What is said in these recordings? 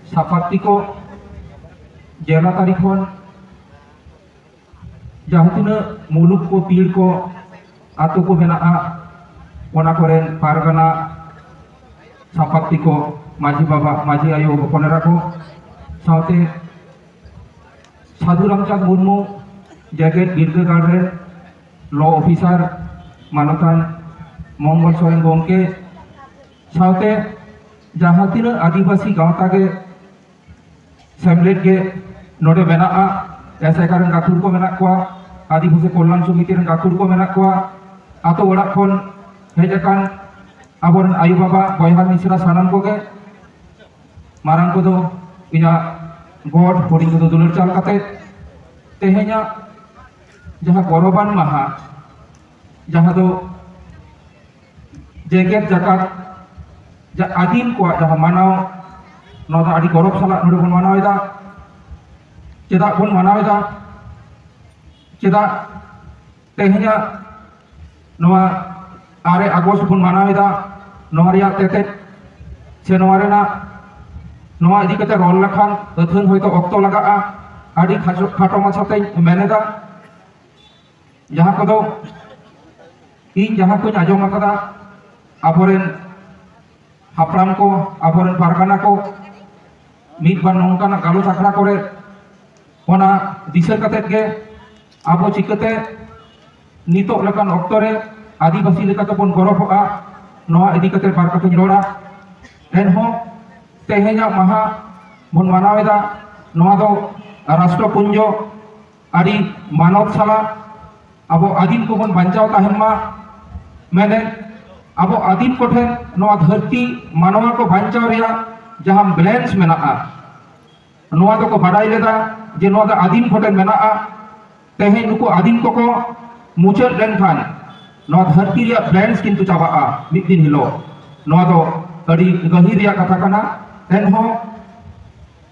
ᱥᱟᱯᱟᱛᱤ ᱠᱚ ᱡᱮᱞᱟ ᱛᱟᱹᱨᱤ ᱠᱷᱚᱱ ᱡᱟᱦᱟᱸ ᱛᱤᱱᱟᱹᱜ ᱢᱩᱞᱩᱠ ᱠᱚ ᱯᱤᱲ ᱠᱚ ᱟᱛᱳ ᱠᱚ ᱢᱮᱱᱟᱜᱼᱟ ᱚᱱᱟ ᱠᱚᱨᱮᱱ ᱯᱟᱨᱜᱟᱱᱟ ᱥᱟᱯᱟᱛᱤ ᱠᱚ ᱢᱟᱹᱡᱷᱤ ᱵᱟᱵᱟ ᱢᱟᱹᱡᱷᱤ ᱟᱭᱳ ᱦᱚᱯᱚᱱ ᱮᱨᱟ ᱠᱚ ᱥᱟᱶᱛᱮ ᱥᱟᱹᱫᱷᱩ ᱨᱟᱢᱪᱟᱸᱫᱽ ᱢᱩᱨᱢᱩ ᱡᱮᱜᱮᱛ ᱵᱤᱨᱫᱟᱹᱜᱟᱲ ᱨᱮ ᱞᱚ ᱚᱯᱷᱤᱥᱟᱨ ᱢᱟᱱᱚᱛᱟᱱ ᱢᱚᱝᱜᱚᱞ ᱥᱚᱨᱮᱱ ᱜᱚᱢᱠᱮ ᱥᱟᱶᱛᱮ ᱡᱟᱦᱟᱸ ᱛᱤᱱᱟᱹᱜ ᱟᱹᱫᱤᱵᱟᱹᱥᱤ ᱜᱟᱶᱛᱟ ᱜᱮ ᱥᱮᱢᱞᱮᱫ ᱜᱮ ᱱᱚᱰᱮ ᱢᱮᱱᱟᱜᱼᱟ ᱮᱥᱮᱠᱟ ᱨᱮᱱ ᱜᱟᱹᱠᱷᱩᱲ ᱠᱚ ᱢᱮᱱᱟᱜ ᱠᱚᱣᱟ ᱟᱹᱫᱤᱵᱟᱹᱥᱤ ᱠᱚᱞᱭᱟᱱ ᱥᱚᱢᱤᱛᱤ ᱨᱮᱱ ᱜᱟᱹᱠᱷᱩᱲ ᱠᱚ ᱢᱮᱱᱟᱜ ᱠᱚᱣᱟ ᱟᱛᱳ ᱚᱲᱟᱜ ᱠᱷᱚᱱ ᱦᱮᱡ ᱟᱠᱟᱱ ᱟᱵᱚᱨᱮᱱ ᱟᱭᱳ ᱵᱟᱵᱟ ᱵᱚᱭᱦᱟ ᱢᱤᱥᱨᱟ ᱥᱟᱱᱟᱢ ᱠᱚᱜᱮ ᱢᱟᱨᱟᱝ ᱠᱚᱫᱚ ᱤᱧᱟᱹᱜ ᱜᱚᱰ ᱦᱩᱰᱤᱧ ᱠᱚᱫᱚ ᱫᱩᱞᱟᱹᱲ ᱪᱟᱞ ᱠᱟᱛᱮ ᱛᱮᱦᱮᱧᱟᱜ ᱡᱟᱦᱟᱸ ᱜᱚᱨᱚᱵᱟᱱ ᱢᱟᱦᱟ ᱡᱟᱦᱟᱸ ᱫᱚ ᱡᱮᱜᱮᱛ ᱡᱟᱠᱟᱛ ᱡᱟ ᱟᱹᱫᱤᱢ ᱠᱚᱣᱟᱜ ᱡᱟᱦᱟᱸ ᱢᱟᱱᱟᱣ ᱱᱚᱣᱟ ᱫᱚ ᱟᱹᱰᱤ ᱜᱚᱨᱚᱵᱽ ᱥᱟᱞᱟᱜ ᱱᱚᱰᱮ ᱵᱚᱱ ᱢᱟᱱᱟᱣᱮᱫᱟ ᱪᱮᱫᱟᱜ ᱵᱚᱱ ᱢᱟᱱᱟᱣᱮᱫᱟ ᱪᱮᱫᱟᱜ ᱛᱮᱦᱮᱧᱟᱜ ᱱᱚᱣᱟ ᱟᱨᱮ ᱟᱜᱚᱥᱴ ᱵᱚᱱ ᱢᱟᱱᱟᱣᱮᱫᱟ ᱱᱚᱣᱟ ᱨᱮᱭᱟᱜ ᱛᱮᱛᱮᱫ ᱥᱮ ᱱᱚᱣᱟ ᱨᱮᱱᱟᱜ ᱱᱚᱣᱟ ᱤᱫᱤ ᱠᱟᱛᱮ ᱨᱚᱲ ᱞᱮᱠᱷᱟᱱ ᱟᱹᱛᱷᱟᱹᱱ ᱦᱚᱭᱛᱳ ᱚᱠᱛᱚ ᱞᱟᱜᱟᱜᱼᱟ ᱟᱹᱰᱤ ᱠᱷᱟᱴᱚ ᱢᱟᱪᱷᱟᱛᱮᱧ ᱢᱮᱱᱮᱫᱟ ᱡᱟᱦᱟᱸ ᱠᱚᱫᱚ ᱤᱧ ᱡᱟᱦᱟᱸ ᱠᱚᱧ ᱟᱸᱡᱚᱢ ᱟᱠᱟᱫᱟ ᱟᱵᱚᱨᱮᱱ ᱦᱟᱯᱲᱟᱢ ᱠᱚ ᱟᱵᱚᱨᱮᱱ ᱯᱟᱨᱜᱟᱱᱟ ᱠᱚ ᱢᱤᱫ ᱵᱟᱨ ᱱᱚᱝᱠᱟᱱᱟᱜ ᱜᱟᱞᱚᱪ ᱟᱠᱷᱲᱟ ᱠᱚᱨᱮ ᱚᱱᱟ ᱫᱤᱥᱟᱹ ᱠᱟᱛᱮᱫ ᱜᱮ ᱟᱵᱚ ᱪᱤᱠᱟᱹᱛᱮ ᱱᱤᱛᱚᱜ ᱞᱮᱠᱟᱱ ᱚᱠᱛᱚ ᱨᱮ ᱟᱹᱫᱤᱵᱟᱹᱥᱤ ᱞᱮᱠᱟ ᱛᱮᱵᱚᱱ ᱜᱚᱨᱚᱵᱚᱜᱼᱟ ᱱᱚᱣᱟ ᱤᱫᱤ ᱠᱟᱛᱮᱫ ᱵᱟᱨ ᱠᱟᱛᱷᱟᱧ ᱨᱚᱲᱟ ᱮᱱᱦᱚᱸ ᱛᱮᱦᱮᱧᱟᱜ ᱢᱟᱦᱟ ᱵᱚᱱ ᱢᱟᱱᱟᱣᱮᱫᱟ ᱱᱚᱣᱟ ᱫᱚ ᱨᱟᱥᱴᱨᱚᱯᱩᱧᱡᱚ ᱟᱹᱰᱤ ᱢᱟᱱᱚᱛ ᱥᱟᱞᱟᱜ ᱟᱵᱚ ᱟᱹᱫᱤᱢ ᱠᱚᱵᱚᱱ ᱵᱟᱧᱪᱟᱣ ᱛᱟᱦᱮᱱ ᱢᱟ ᱢᱮᱱᱮᱫ ᱟᱵᱚ ᱟᱹᱫᱤᱢ ᱠᱚᱴᱷᱮᱱ ᱱᱚᱣᱟ ᱫᱷᱟᱹᱨᱛᱤ ᱢᱟᱱᱣᱟ ᱠᱚ ᱵᱟᱧᱪᱟᱣ ᱨᱮᱭᱟᱜ ᱡᱟᱦᱟᱸ ᱵᱮᱞᱮᱱᱥ ᱢᱮᱱᱟᱜᱼᱟ ᱱᱚᱣᱟ ᱫᱚᱠᱚ ᱵᱟᱰᱟᱭ ᱞᱮᱫᱟ ᱡᱮ ᱱᱚᱣᱟ ᱫᱚ ᱟᱹᱫᱤᱢ ᱠᱚᱴᱷᱮᱱ ᱢᱮᱱᱟᱜᱼᱟ ᱛᱮᱦᱮᱧ ᱱᱩᱠᱩ ᱟᱹᱫᱤᱢ ᱠᱚᱠᱚ ᱢᱩᱪᱟᱹᱫ ᱞᱮᱱᱠᱷᱟᱱ ᱱᱚᱣᱟ ᱫᱷᱟᱹᱨᱛᱤ ᱨᱮᱭᱟᱜ ᱵᱮᱞᱮᱱᱥ ᱠᱤᱱᱛᱩ ᱪᱟᱵᱟᱜᱼᱟ ᱢᱤᱫ ᱫᱤᱱ ᱦᱤᱞᱳᱜ ᱱᱚᱣᱟ ᱫᱚ ᱟᱹᱰᱤ ᱜᱟᱹᱦᱤᱨ ᱨᱮᱭᱟᱜ ᱠᱟᱛᱷᱟ ᱠᱟᱱᱟ ᱮᱱᱦᱚᱸ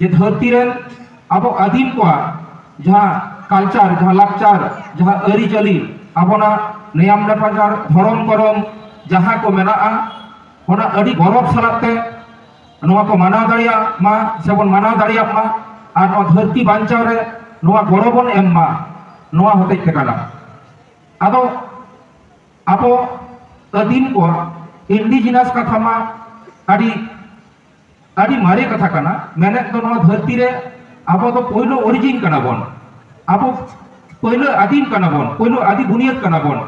ᱡᱮ ᱫᱷᱟᱹᱨᱛᱤ ᱨᱮᱱ ᱟᱵᱚ ᱟᱹᱫᱤᱢ ᱠᱚᱣᱟᱜ ᱡᱟᱦᱟᱸ ᱠᱟᱞᱪᱟᱨ ᱡᱟᱦᱟᱸ ᱞᱟᱠᱪᱟᱨ ᱡᱟᱦᱟᱸ ᱟᱹᱨᱤᱪᱟᱹᱞᱤ ᱟᱵᱚᱱᱟᱜ ᱱᱮᱭᱟᱢ ᱱᱮᱯᱟᱪᱟᱨ ᱫᱷᱚᱨᱚᱢ ᱠᱚᱨᱚᱢ ᱡᱟᱦᱟᱸ ᱠᱚ ᱢᱮᱱᱟᱜᱼᱟ ᱚᱱᱟ ᱟᱹᱰᱤ ᱜᱚᱨᱚᱵᱽ ᱥᱟᱞᱟᱜ ᱛᱮ ᱱᱚᱣᱟ ᱠᱚ ᱢᱟᱱᱟᱣ ᱫᱟᱲᱮᱭᱟᱜ ᱢᱟ ᱥᱮᱵᱚᱱ ᱢᱟᱱᱟᱣ ᱫᱟᱲᱮᱭᱟᱜ ᱢᱟ ᱟᱨ ᱱᱚᱣᱟ ᱫᱷᱟᱹᱨᱛᱤ ᱵᱟᱧᱪᱟᱣ ᱨᱮ ᱱᱚᱣᱟ ᱜᱚᱲᱚ ᱵᱚᱱ ᱮᱢ ᱢᱟ ᱱᱚᱣᱟ ᱦᱚᱛᱮᱡ ᱛᱮ ᱠᱟᱱᱟ ᱟᱫᱚ ᱟᱵᱚ ᱟᱹᱫᱤᱢ ᱠᱚᱣᱟᱜ ᱤᱱᱰᱤᱡᱤᱱᱟᱥ ᱠᱟᱛᱷᱟ ᱢᱟ ᱟᱹᱰᱤ ᱟᱹᱰᱤ ᱢᱟᱨᱮ ᱠᱟᱛᱷᱟ ᱠᱟᱱᱟ ᱢᱮᱱᱮᱫ ᱫᱚ ᱱᱚᱣᱟ ᱫᱷᱟᱹᱨᱛᱤ ᱨᱮ ᱟᱵᱚ ᱫᱚ ᱯᱳᱭᱞᱳ ᱚᱨᱤᱡᱤᱱ ᱠᱟᱱᱟ ᱵᱚᱱ ᱟᱵᱚ ᱯᱳᱭᱞᱳ ᱟᱹᱫᱤᱢ ᱠᱟᱱᱟ ᱵᱚᱱ ᱯᱳᱭᱞᱳ ᱟᱹᱫᱤ ᱵᱩᱱᱤᱭᱟᱹᱫ ᱠᱟᱱᱟ ᱵᱚᱱ